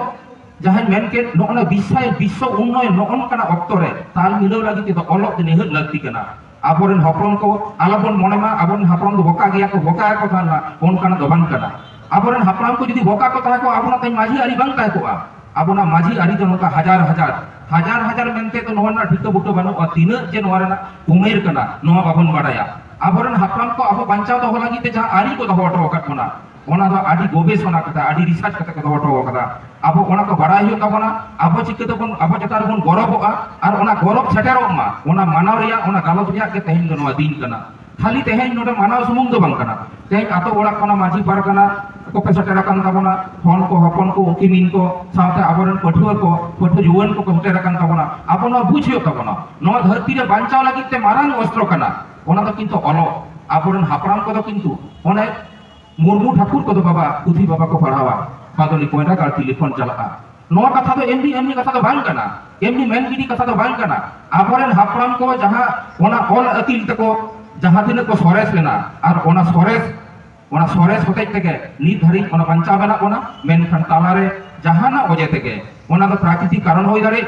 ᱡᱟᱦᱟᱸᱧ ᱢᱮᱱ ᱠᱮᱫ ᱱᱚᱜᱼᱚ ᱱᱚᱣᱟ ᱵᱤᱥᱟᱭ ᱵᱤᱥᱥᱚ ᱩᱱᱱᱚᱭᱚᱱ ᱱᱚᱜᱼᱚ ᱱᱚᱝᱠᱟᱱᱟᱜ ᱚᱠᱛᱚ ᱨᱮ ᱛᱟᱞ ᱢᱤᱞᱟᱹᱣ ᱞᱟᱹᱜᱤᱫ ᱛᱮᱫᱚ ᱚᱞᱚᱜ ᱫᱚ ᱱᱤᱦᱟᱹᱛ ᱞᱟᱹᱠᱛᱤ ᱠᱟᱱᱟ ᱟᱵᱚᱨᱮᱱ ᱦᱚᱯᱚᱱ ᱠᱚ ᱟᱞᱚᱵᱚᱱ ᱢᱚᱱᱮ ᱢᱟ ᱟᱵᱚᱨᱮᱱ ᱦᱟᱯᱲᱟᱢ ᱫᱚ ᱵᱚᱠᱟ ᱜᱮᱭᱟ ᱠᱚ ᱵᱚᱠᱟ ᱜᱮᱠᱚ ᱛᱟᱦᱮᱱ ᱢᱟ ᱚᱱᱠᱟᱱᱟᱜ ᱫᱚ ᱵᱟᱝ ᱠᱟᱱᱟ ᱟᱵᱚᱨᱮᱱ ᱦᱟᱯᱲᱟᱢ ᱠᱚ ᱡᱩᱫᱤ ᱵᱚᱠᱟ ᱠᱚ ᱛᱟᱦᱮᱸ ᱠᱚᱜᱼᱟ ᱟᱵᱚᱱᱟᱜ ᱛᱮᱦᱮᱧ ᱢᱟᱹᱡᱷᱤ ᱟᱹᱨᱤ ᱵᱟᱝ ᱛᱟᱦᱮᱸ ᱠᱚᱜᱼᱟ ᱟᱵᱚᱱᱟᱜ ᱢᱟᱹᱡᱷᱤ ᱟᱹᱨᱤ ᱫᱚ ᱱᱚᱝᱠᱟ ᱦᱟᱡᱟᱨ ᱦᱟᱡᱟᱨ ᱦᱟᱡᱟᱨ ᱦᱟᱡᱟᱨ ᱢᱮᱱᱛᱮ ᱫᱚ ᱱᱚᱣᱟ ᱨᱮᱱᱟᱜ ᱴᱷᱤᱠᱟᱹ ᱵᱩᱴᱟᱹ ᱵᱟᱹᱱᱩᱜᱼᱟ ᱛᱤᱱᱟᱹᱜ ᱡᱮ ᱱᱚᱣᱟ ᱨᱮᱱᱟᱜ ᱩᱢᱮᱨ ᱠᱟᱱᱟ ᱱᱚᱣᱟ ᱵᱟᱵᱚᱱ ᱵᱟᱰᱟᱭᱟ ᱟᱵᱚᱨᱮᱱ ᱦᱟᱯᱲᱟᱢ ᱠᱚ ᱟᱵᱚ ᱵᱟᱧᱪᱟᱣ ᱫᱚᱦᱚ ᱞᱟᱹᱜᱤᱫ ᱛᱮ ᱡᱟᱦᱟᱸ ᱟᱹᱨᱤ ᱠᱚ ᱫᱚᱦᱚ ᱦᱚᱴᱚ ᱟᱠᱟᱫ ᱵᱚᱱᱟ ᱚᱱᱟ ᱫᱚ ᱟᱹᱰᱤ ᱜᱚᱵᱮᱥᱚᱱᱟ ᱠᱟᱛᱮ ᱟᱹᱰᱤ ᱨᱤᱥᱟᱨᱪ ᱠᱟᱛᱮ ᱠᱚ ᱫᱚᱦᱚ ᱦᱚᱴᱚ ᱟᱠᱟᱫᱟ ᱟᱵᱚ ᱚᱱᱟ ᱠᱚ ᱵᱟᱲᱟᱭ ᱦᱩᱭᱩᱜ ᱛᱟᱵᱚᱱᱟ ᱟᱵᱚ ᱪᱤᱠᱟᱹ ᱛᱮᱵᱚᱱ ᱟᱵᱚ ᱪᱮᱛᱟᱱ ᱨᱮᱵᱚᱱ ᱜᱚᱨᱚᱵᱚᱜᱼᱟ ᱟᱨ ᱚᱱᱟ ᱜᱚᱨᱚᱵ ᱥᱮᱴᱮᱨᱚᱜ ᱢᱟ ᱚᱱᱟ ᱢᱟᱱᱟᱣ ᱨᱮᱭᱟᱜ ᱚᱱᱟ ᱜᱟᱞᱚᱪ ᱨᱮᱭᱟᱜ ᱜᱮ ᱛᱮᱦᱮᱧ ᱫᱚ ᱱᱚᱣᱟ ᱫᱤᱱ ᱠᱟᱱᱟ ᱠᱷᱟᱹᱞᱤ ᱛᱮᱦᱮᱧ ᱱᱚᱰᱮ ᱢᱟᱱᱟᱣ ᱥᱩᱢᱩᱝ ᱫᱚ ᱵᱟᱝ ᱠᱟᱱᱟ ᱛᱮᱦᱮᱧ ᱟᱛᱳ ᱚᱲᱟᱜ ᱠᱷᱚᱱᱟᱜ ᱢᱟᱹᱡᱷᱤ ᱯᱟᱨᱜᱟᱱᱟ ᱠᱚᱯᱮ ᱥᱮᱴᱮᱨ ᱟᱠᱟᱱ ᱛᱟᱵᱚᱱᱟ ᱦᱚᱱ ᱠᱚ ᱦᱚᱯᱚᱱ ᱠᱚ ᱩᱱᱠᱤᱱᱤᱱ ᱠᱚ ᱥᱟᱶᱛᱮ ᱟᱵᱚᱨᱮᱱ ᱯᱟᱹᱴᱷᱩᱣᱟᱹ ᱠᱚ ᱯᱟᱹᱴᱷᱩᱣᱟᱹ ᱡᱩᱣᱟᱹᱱ ᱠᱚᱠᱚ ᱥᱮᱴᱮᱨ ᱟᱠᱟᱱ ᱛᱟᱵᱚᱱᱟ ᱟᱵᱚ ᱱᱚᱣᱟ ᱵᱩᱡᱽ ᱦᱩᱭᱩᱜ ᱛᱟᱵᱚᱱᱟ ᱱᱚᱣᱟ ᱫᱷᱟᱹᱨᱛᱤ ᱨᱮ ᱵᱟᱧᱪᱟᱣ ᱞᱟᱹᱜᱤᱫ ᱛᱮ ᱢᱟᱨᱟᱝ ᱚᱥᱛᱨᱚ ᱠᱟᱱᱟ ᱚᱱᱟ ᱫᱚ ᱠᱤᱱᱛᱩ ᱚᱞᱚᱜ ᱟᱵᱚᱨᱮᱱ ᱦᱟᱯᱲᱟᱢ ᱠᱚᱫᱚ ᱠᱤᱱᱛᱩ ᱚᱱᱮ ᱢᱩᱨᱢᱩ ᱴᱷᱟᱠᱩᱨ ᱠᱚᱫᱚ ᱵᱟᱵᱟ ᱩᱫᱷᱤ ᱵᱟᱵᱟ ᱠᱚ ᱯᱟᱲᱦᱟᱣᱟ ᱵᱟᱫᱚᱞᱤ ᱠᱚᱭᱞᱟ ᱜᱟᱲ ᱴᱮᱞᱤᱯᱷᱳᱱ ᱪᱟᱞᱟᱜᱼᱟ ᱱᱚᱣᱟ ᱠᱟᱛᱷᱟ ᱫᱚ ᱮᱢᱱᱤ ᱮᱢᱱᱤ ᱠᱟᱛᱷᱟ ᱫᱚ ᱵᱟᱝ ᱠᱟᱱᱟ ᱮᱢᱱᱤ ᱢᱮᱱ ᱜᱤᱰᱤ ᱠᱟᱛᱷᱟ ᱫᱚ ᱵᱟᱝ ᱠᱟᱱᱟ ᱟᱵᱚᱨᱮᱱ ᱦᱟᱯᱲᱟᱢ ᱠᱚ ᱡᱟᱦᱟᱸ ᱚᱱᱟ ᱚᱞ ᱟᱹᱠᱤᱞ ᱛᱮᱠᱚ ᱡᱟᱦᱟᱸ ᱛᱤᱱᱟᱹᱜ ᱠᱚ ᱥᱚᱨᱮᱥ ᱞᱮᱱᱟ ᱟᱨ ᱚᱱᱟ ᱥᱚᱨᱮᱥ ᱚᱱᱟ ᱥᱚᱨᱮᱥ ᱦᱚᱛᱮᱡ ᱛᱮᱜᱮ ᱱᱤᱛ ᱫᱷᱟᱹᱨᱤᱡ ᱚᱱᱟ ᱵᱟᱧᱪᱟᱣ ᱢᱮᱱᱟᱜ ᱵᱚᱱᱟ ᱢᱮᱱᱠᱷᱟᱱ ᱛᱟᱞᱟᱨᱮ ᱡᱟᱦᱟᱱᱟᱜ ᱚᱡᱮ ᱛᱮᱜᱮ ᱚᱱᱟ ᱫᱚ ᱯᱨᱟᱠᱨᱤᱛᱤᱠ ᱠᱟᱨᱚᱱ ᱦᱩᱭ ᱫᱟᱲᱮᱭᱟᱜ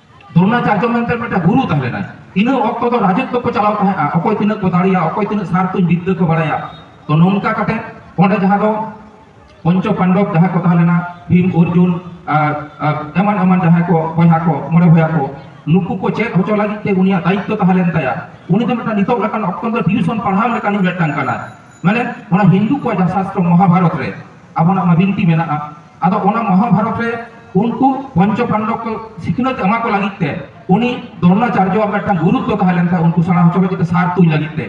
ᱫᱨᱳᱱᱟᱪᱟᱨᱡᱚ ᱢᱮᱱᱛᱮ ᱢᱤᱫᱴᱟᱝ ᱜᱩᱨᱩ ᱛᱟᱦᱮᱸ ᱞᱮᱱᱟᱭ ᱤᱱᱟᱹ ᱚᱠᱛᱚ ᱫᱚ ᱨᱟᱡᱚᱛᱛᱚ ᱠᱚ ᱪᱟᱞᱟᱣ ᱛᱟᱦᱮᱸᱜᱼᱟ ᱚᱠᱚᱭ ᱛᱤᱱᱟᱹᱜ ᱠᱚ ᱫᱟᱲᱮᱭᱟᱜᱼᱟ ᱚᱠᱚᱭ ᱛᱤᱱᱟᱹᱜ ᱥᱟᱨ ᱛᱩᱧ ᱵᱤᱫᱽᱫᱟᱹ ᱠᱚ ᱵᱟᱲᱟᱭᱟ ᱛᱚ ᱱᱚᱝᱠᱟ ᱠᱟᱛᱮ ᱚᱸᱰᱮ ᱡᱟᱦᱟᱸ ᱫᱚ ᱯᱚᱧᱪᱚ ᱯᱟᱱᱰᱚᱵ ᱡᱟᱦᱟᱸ ᱠᱚ ᱛᱟᱦᱮᱸ ᱞᱮᱱᱟ ᱵᱷᱤᱢ ᱚᱨᱡᱩᱱ ᱮᱢᱟᱱ ᱮᱢᱟᱱ ᱡᱟᱦᱟᱸᱭ ᱠᱚ ᱵᱚᱭᱦᱟ ᱠᱚ ᱢᱚᱬᱮ ᱵᱚᱭᱦᱟ ᱠᱚ ᱱᱩᱠᱩ ᱠᱚ ᱪᱮᱫ ᱦᱚᱪᱚ ᱞᱟᱹᱜᱤᱫ ᱛᱮ ᱩᱱᱤᱭᱟᱜ ᱫᱟᱭᱤᱛᱛᱚ ᱛᱟᱦᱮᱸ ᱞᱮᱱ ᱛᱟᱭᱟ ᱩᱱᱤ ᱫᱚ ᱢᱤᱫᱴᱟᱝ ᱱᱤᱛᱚᱜ ᱞᱮᱠᱟᱱ ᱚᱠᱛᱚ ᱫᱚ ᱴᱤᱭᱩᱥᱚᱱ ᱯᱟᱲᱦᱟᱣ ᱞᱮᱠᱟᱱᱤᱡ ᱢᱤᱫᱴᱟᱝ ᱠᱟᱱᱟᱭ ᱢᱟᱱᱮ ᱚᱱᱟ ᱦᱤᱱᱫᱩ ᱠᱚᱣᱟᱜ ᱡᱟᱦᱟᱸ ᱥᱟᱥᱛᱨᱚ ᱢᱚᱦᱟᱵᱷᱟᱨᱚᱛ ᱨᱮ ᱟᱵᱚᱱᱟᱜ ᱢᱟ ᱵᱤᱱᱛᱤ ᱢᱮᱱᱟᱜᱼᱟ ᱟᱫᱚ ᱚᱱᱟ ᱢᱚᱦᱟᱵᱷᱟᱨᱚᱛ ᱨᱮ ᱩᱱᱠᱩ ᱯᱚᱧᱪᱚ ᱯᱟᱱᱰᱚᱵ ᱠᱚ ᱥᱤᱠᱷᱱᱟᱹᱛ ᱮᱢᱟ ᱠᱚ ᱞᱟᱹᱜᱤᱫ ᱛᱮ ᱩᱱᱤ ᱫᱨᱳᱬᱟᱪᱟᱨᱡᱚᱣᱟᱜ ᱢᱤᱫᱴᱟᱝ ᱜᱩᱨᱩᱛᱛᱚ ᱛᱟᱦᱮᱸ ᱞᱮᱱ ᱛᱟᱭᱟ ᱩᱱᱠᱩ ᱥᱮᱬᱟ ᱦᱚᱪᱚ ᱞᱟᱹᱜᱤᱫ ᱛᱮ ᱥᱟᱨ ᱛᱩᱧ ᱞᱟᱹᱜᱤᱫ ᱛᱮ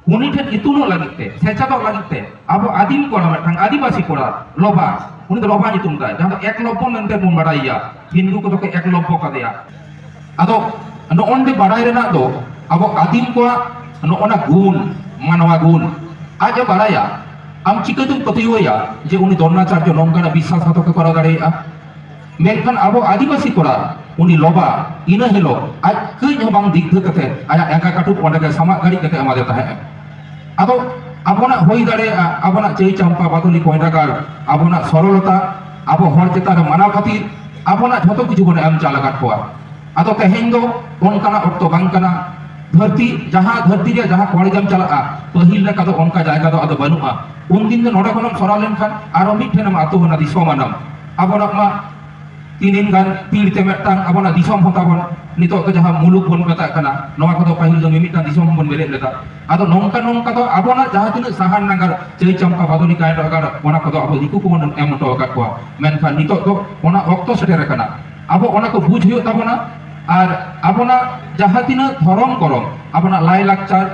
ᱩᱱᱤ ᱴᱷᱮᱱ ᱤᱛᱩᱱᱚᱜ ᱞᱟᱹᱜᱤᱫ ᱛᱮ ᱥᱮᱪᱮᱫᱚᱜ ᱞᱟᱹᱜᱤᱫ ᱛᱮ ᱟᱵᱚ ᱟᱹᱫᱤᱢ ᱠᱚᱲᱟ ᱢᱤᱫᱴᱟᱝ ᱟᱹᱫᱤᱵᱟᱹᱥᱤ ᱠᱚᱲᱟ ᱞᱚᱵᱟ ᱩᱱᱤ ᱫᱚ ᱞᱚᱵᱟ ᱧᱩᱛᱩᱢ ᱛᱟᱭ ᱡᱟᱦᱟᱸ ᱫᱚ ᱮᱠᱞᱚᱵᱽᱵᱚ ᱢᱮᱱᱛᱮ ᱵᱚᱱ ᱵᱟᱰᱟᱭᱮᱭᱟ ᱦᱤᱱᱫᱩ ᱠᱚᱫᱚ ᱠᱚ ᱮᱠᱞᱚᱵᱽᱵᱚ ᱠᱟᱫᱮᱭᱟ ᱟᱫᱚ ᱱᱚᱜᱼᱚ ᱱᱚᱰᱮ ᱵᱟᱲᱟᱭ ᱨᱮᱱᱟᱜ ᱫᱚ ᱟᱵᱚ ᱟᱹᱫᱤᱢ ᱠᱚᱣᱟᱜ ᱱᱚᱜᱼᱚ ᱱᱟ ᱜᱩᱱ ᱢᱟᱱᱣᱟ ᱜᱩᱱ ᱟᱡ ᱮ ᱵᱟᱲᱟᱭᱟ ᱟᱢ ᱪᱤᱠᱟᱹᱛᱮᱢ ᱯᱟᱹᱛᱭᱟᱹᱣᱟᱭᱟ ᱡᱮ ᱩᱱᱤ ᱫᱨᱚᱱᱟᱪᱟᱨᱡᱚ ᱱᱚᱝᱠᱟᱱᱟᱜ ᱵᱤᱥᱥᱟᱥ ᱜᱷᱟᱛᱚᱠ ᱮ ᱠᱚᱨᱟᱣ ᱫᱟᱲᱮᱭᱟᱜᱼᱟ ᱢᱮᱱᱠᱷᱟᱱ ᱟᱵᱚ ᱟᱹᱫᱤᱵᱟᱹᱥᱤ ᱠᱚᱲᱟ ᱩᱱᱤ ᱞᱚᱵᱟ ᱤᱱᱟᱹ ᱦᱤᱞᱳᱜ ᱟᱡ ᱠᱟᱹᱡ ᱦᱚᱸ ᱵᱟᱝ ᱫᱤᱜᱫᱷᱟᱹ ᱠᱟᱛᱮ ᱟᱭᱟᱜ ᱮᱸᱜᱟ ᱠᱟᱹᱴᱩᱵ ᱚᱸᱰᱮ ᱜᱮ ᱥᱟᱢᱟᱜ ᱜᱷᱟᱹᱲᱤᱡ ᱠᱟᱛᱮ ᱮᱢᱟᱫᱮ ᱛᱟᱦᱮᱸᱫ ᱟᱫᱚ ᱟᱵᱚᱱᱟᱜ ᱦᱩᱭ ᱫᱟᱲᱮᱭᱟᱜᱼᱟ ᱟᱵᱚᱱᱟᱜ ᱪᱟᱹᱭ ᱪᱟᱢᱯᱟ ᱵᱟᱫᱚᱞᱤ ᱠᱚᱭᱰᱟ ᱜᱟᱲ ᱟᱵᱚᱱᱟᱜ ᱥᱚᱨᱚᱞᱚᱛᱟ ᱟᱵᱚ ᱦᱚᱲ ᱪᱮᱛᱟᱱ ᱨᱮ ᱢᱟᱱᱟᱣ ᱠᱷᱟᱹᱛᱤᱨ ᱟᱵᱚᱱᱟᱜ ᱡᱷᱚᱛᱚ ᱠᱤᱪᱷᱩ ᱵᱚᱱ ᱮᱢ ᱪᱟᱞ ᱟᱠᱟᱫ ᱠᱚᱣᱟ ᱟᱫᱚ ᱛᱮᱦᱮᱧ ᱫᱚ ᱚᱱᱠᱟᱱᱟᱜ ᱚᱠᱛᱚ ᱵᱟᱝ ᱠᱟᱱᱟ ᱫᱷᱟᱹᱨᱛᱤ ᱡᱟᱦᱟᱸ ᱫᱷᱟᱹᱨᱛᱤ ᱨᱮ ᱡᱟᱦᱟᱸ ᱠᱚᱲᱮᱡᱟᱢ ᱪᱟᱞᱟᱜᱼᱟ ᱯᱟᱹᱦᱤᱞ ᱞᱮᱠᱟ ᱫᱚ ᱚᱱᱠᱟ ᱡᱟᱭᱜᱟ ᱫᱚ ᱟᱫᱚ ᱵᱟᱹᱱᱩᱜᱼᱟ ᱩᱱᱫᱤᱱ ᱫᱚ ᱱᱚᱰᱮ ᱠᱷᱚᱱᱮᱢ ᱥᱚᱨᱟᱣ ᱞᱮᱱᱠᱷᱟᱱ ᱟᱨᱚ ᱢᱤᱫ ᱴᱷᱮᱱᱮᱢ ᱟᱛᱳ ᱮᱱᱟ ᱫᱤᱥᱚᱢ ᱟᱱᱟᱢ ᱟᱵᱚᱱᱟᱜ ᱢᱟ ᱛᱤᱱᱤᱱ ᱜᱟᱱ ᱛᱤᱨ ᱛᱮ ᱢᱤᱫᱴᱟᱝ ᱟᱵᱚᱱᱟᱜ ᱫᱤᱥᱚᱢ ᱦᱚᱸ ᱛᱟᱵᱚᱱ ᱱᱤᱛᱚᱜ ᱫᱚ ᱡᱟᱦᱟᱸ ᱢᱩᱞᱩᱠ ᱵᱚᱱ ᱢᱮᱛᱟᱜ ᱠᱟᱱᱟ ᱱᱚᱣᱟ ᱠᱚᱫᱚ ᱯᱟᱹᱦᱤᱞ ᱫᱚ ᱢᱤᱢᱤᱫᱴᱟᱝ ᱫᱤᱥᱚᱢ ᱵᱚᱱ ᱵᱮᱨᱮᱫ ᱞᱮᱫᱟ ᱟᱫᱚ ᱱᱚᱝᱠᱟ ᱱᱚᱝᱠᱟ ᱫᱚ ᱟᱵᱚᱱᱟᱜ ᱡᱟᱦᱟᱸ ᱛᱤᱱᱟᱹᱜ ᱥᱟᱦᱟᱱ ᱱᱟᱜᱟᱨ ᱪᱟᱹᱭ ᱪᱟᱢᱯᱟ ᱵᱟᱫᱚᱞᱤ ᱠᱟᱭ ᱱᱟᱜᱟᱨ ᱚᱱᱟ ᱠᱚᱫᱚ ᱟᱵᱚ ᱫᱤᱠᱩ ᱠᱚᱵᱚᱱ ᱮᱢ ᱦᱚᱴᱚ ᱟᱠᱟᱫ ᱠᱚᱣᱟ ᱢᱮᱱᱠᱷᱟᱱ ᱱᱤᱛᱚᱜ ᱫᱚ ᱚᱱᱟ ᱚᱠᱛᱚ ᱥᱮᱴᱮᱨ ᱟᱠᱟᱱᱟ ᱟᱵᱚ ᱚᱱᱟ ᱠᱚ ᱵᱩᱡᱽ ᱦᱩᱭᱩᱜ ᱛᱟᱵᱚᱱᱟ ᱟᱨ ᱟᱵᱚᱱᱟᱜ ᱡᱟᱦᱟᱸ ᱛᱤᱱᱟᱹᱜ ᱫᱷᱚᱨᱚᱢ ᱠᱚᱨᱚᱢ ᱟᱵᱚᱱᱟᱜ ᱞᱟᱭ ᱞᱟᱠᱪᱟᱨ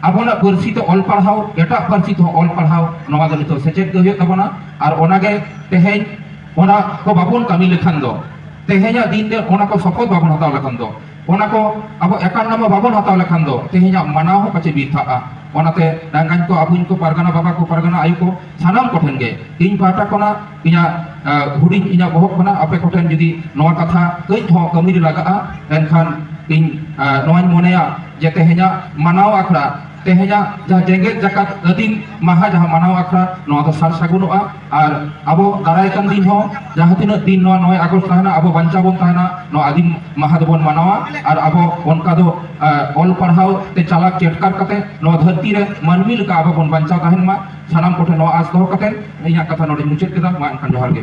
ᱟᱵᱚᱱᱟᱜ ᱯᱟᱹᱨᱥᱤ ᱛᱮ ᱚᱞ ᱯᱟᱲᱦᱟᱣ ᱮᱴᱟᱜ ᱯᱟᱹᱨᱥᱤ ᱛᱮᱦᱚᱸ ᱚᱞ ᱯᱟᱲᱦᱟᱣ ᱱᱚᱣᱟ ᱫᱚ ᱱᱤᱛᱚᱜ ᱥᱮᱪᱮᱫ ᱜᱮ ᱦᱩᱭᱩᱜ ᱛᱟᱵᱚᱱᱟ ᱟᱨ ᱚᱱᱟᱜᱮ ᱛᱮᱦᱮᱧ ᱚᱱᱟ ᱠᱚ ᱵᱟᱵᱚᱱ ᱠᱟᱹᱢᱤ ᱞᱮᱠᱷᱟᱱ ᱫᱚ ᱛᱮᱦᱮᱧᱟᱜ ᱫᱤᱱ ᱨᱮ ᱚᱱᱟ ᱠᱚ ᱥᱚᱯᱚᱛ ᱵᱟᱵᱚᱱ ᱦᱟᱛᱟᱣ ᱞᱮᱠᱷᱟᱱ ᱫᱚ ᱚᱱᱟ ᱠᱚ ᱟᱵᱚ ᱮᱠᱟᱱ ᱱᱟᱢᱟ ᱵᱟᱵᱚᱱ ᱦᱟᱛᱟᱣ ᱞᱮᱠᱷᱟᱱ ᱫᱚ ᱛᱮᱦᱮᱧᱟᱜ ᱢᱟᱱᱟᱣ ᱦᱚᱸ ᱯᱟᱪᱮ ᱵᱤᱨᱛᱷᱟᱜᱼᱟ ᱚᱱᱟᱛᱮ ᱰᱟᱝᱜᱟᱧ ᱠᱚ ᱟᱵᱚᱧ ᱠᱚ ᱯᱟᱨᱜᱟᱱᱟ ᱵᱟᱵᱟ ᱠᱚ ᱯᱟᱨᱜᱟᱱᱟ ᱟᱭᱳ ᱠᱚ ᱥᱟᱱᱟᱢ ᱠᱚᱴᱷᱮᱱ ᱜᱮ ᱤᱧ ᱯᱟᱦᱴᱟ ᱠᱷᱚᱱᱟᱜ ᱤᱧᱟᱹᱜ ᱦᱩᱰᱤᱧ ᱤᱧᱟᱹᱜ ᱵᱚᱦᱚᱜ ᱠᱷᱚᱱᱟᱜ ᱟᱯᱮ ᱠᱚᱴᱷᱮᱱ ᱡᱩᱫᱤ ᱱᱚᱣᱟ ᱠᱟᱛᱷᱟ ᱠᱟᱹᱡ ᱦᱚᱸ ᱠᱟᱹᱢᱤ ᱨᱮ ᱞᱟᱜᱟᱜᱼᱟ ᱮᱱᱠᱷᱟᱱ ᱤᱧ ᱱᱚᱣᱟᱧ ᱢᱚᱱᱮᱭᱟ ᱡᱮ ᱛᱮᱦᱮᱧᱟᱜ ᱢᱟᱱᱟᱣ ᱟᱠᱷᱲᱟ ᱛᱮᱦᱮᱧᱟᱜ ᱡᱟᱦᱟᱸ ᱡᱮᱜᱮᱛ ᱡᱟᱠᱟᱛ ᱟᱹᱫᱤᱢ ᱢᱟᱦᱟ ᱡᱟᱦᱟᱸ ᱢᱟᱱᱟᱣ ᱟᱠᱷᱲᱟ ᱱᱚᱣᱟ ᱫᱚ ᱥᱟᱨ ᱥᱟᱹᱜᱩᱱᱚᱜᱼᱟ ᱟᱨ ᱟᱵᱚ ᱫᱟᱨᱟᱭ ᱠᱟᱱ ᱫᱤᱱ ᱦᱚᱸ ᱡᱟᱦᱟᱸ ᱛᱤᱱᱟᱹᱜ ᱫᱤᱱ ᱱᱚᱣᱟ 9 ᱟᱜᱚᱥᱴ ᱛᱟᱦᱮᱱᱟ ᱟᱵᱚ ᱵᱟᱧᱪᱟᱣ ᱵᱚᱱ ᱛᱟᱦᱮᱱᱟ ᱱᱚᱣᱟ ᱟᱹᱫᱤᱢ ᱢᱟᱦᱟ ᱫᱚᱵᱚᱱ ᱢᱟᱱᱟᱣᱟ ᱟᱨ ᱟᱵᱚ ᱚᱱᱠᱟ ᱫᱚ ᱚᱞ ᱯᱟᱲᱦᱟᱣ ᱛᱮ ᱪᱟᱞᱟᱠ ᱪᱮᱴᱠᱟᱨ ᱠᱟᱛᱮ ᱱᱚᱣᱟ ᱫᱷᱟᱹᱨᱛᱤ ᱨᱮ ᱢᱟᱹᱱᱢᱤ ᱞᱮᱠᱟ ᱟᱵᱚ ᱵᱚᱱ ᱵᱟᱧᱪᱟᱣ ᱛᱟᱦᱮᱱ ᱢᱟ ᱥᱟᱱᱟᱢ ᱠᱚᱴᱷᱮᱱ ᱱᱚᱣᱟ ᱟᱸᱥ ᱫᱚᱦᱚ ᱠᱟᱛᱮ ᱤᱧᱟᱹᱜ ᱠᱟᱛᱷᱟ ᱱᱚᱰᱮᱧ ᱢᱩᱪᱟᱹᱫ ᱠᱮᱫᱟ ᱢᱟ ᱮᱱᱠᱷᱟᱱ ᱡᱚᱦᱟᱨ ᱜᱮ